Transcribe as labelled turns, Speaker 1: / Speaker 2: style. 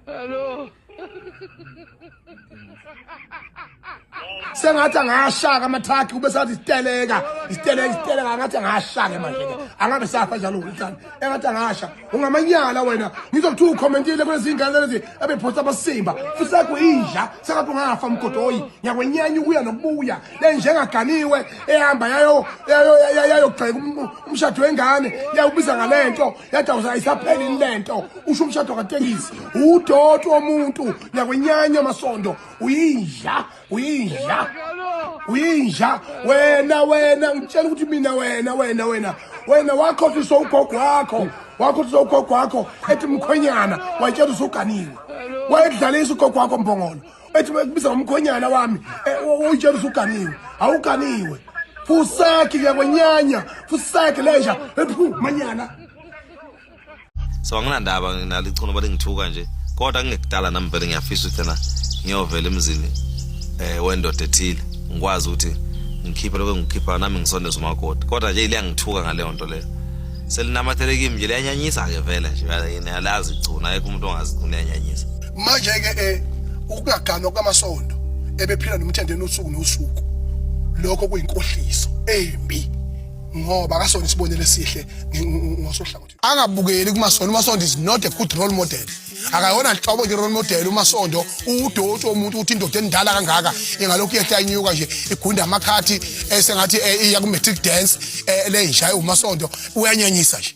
Speaker 1: Hello.
Speaker 2: sengathi angashaka amathakhi kube sathi isiteleka isiteleka isiteleka angathi angashake manje ke angabe safa njalo ngithani engathi angasha ungamanyala wena ngizokuthiwa ukhomentile kulezingane lezi abephosta abasimba futhi sakho inja sengathi ungafa mgodoyi ngiyakwenyanya ukuya nokubuya le njengaganiwe ehamba yayo yayogxeka umshado wengane yawubiza ngalento yada usayisaphelini le nto usho umshado katekisi udoti womuntu nyakwenyanya amasondo uyinja uyinja uyinja wena wena ngitshela ukuthi mina wena wena wena wena wakhohlisa ugogo wakho wakhohlisa ugogo wakho ethi mkhwenyana wayitshela usuganiwe wayedlalisa ugogo wakho mbongolo ethi kubiza ngomkhonyana wami oyitshela ukuthi uganiwe awuganiwe fusaki ke kwenyanya fusaki leja ephu manyana
Speaker 3: so anginandaba nalo ichono bale ngithuka nje kodwa kungekudala nami vele ngiyafisa ukuthi na ngiyovela emzini eh wendoda ethile ngikwazi ukuthi ngikhiphe lokho ngikhipha nami ngisondeza umakoti kodwa nje ile ngithuka ngaleyo nto leyo selinamathele kimi nje liyanyanyisa ke vele nje yini alazi igcuna ayikho umuntu ongazi igcuna yanyanyisa manje ke
Speaker 2: eh ukungaganwa kwamasondo ebephila nomthendeni usuku nosuku lokho kuyinkohliso embi ngoba akasona isibonelo esihle ngosohlangothi angabukeli kumasondo umasondo is not a good role model akayona nhlobo nje role model umasondo udoti womuntu ukuthi indoda endala kangaka ingalokhu yehla inyuka nje igunda amakhathi esengathi eh, eh, iya ku matric dance eh, le njaya umasondo uyanyanyisa nje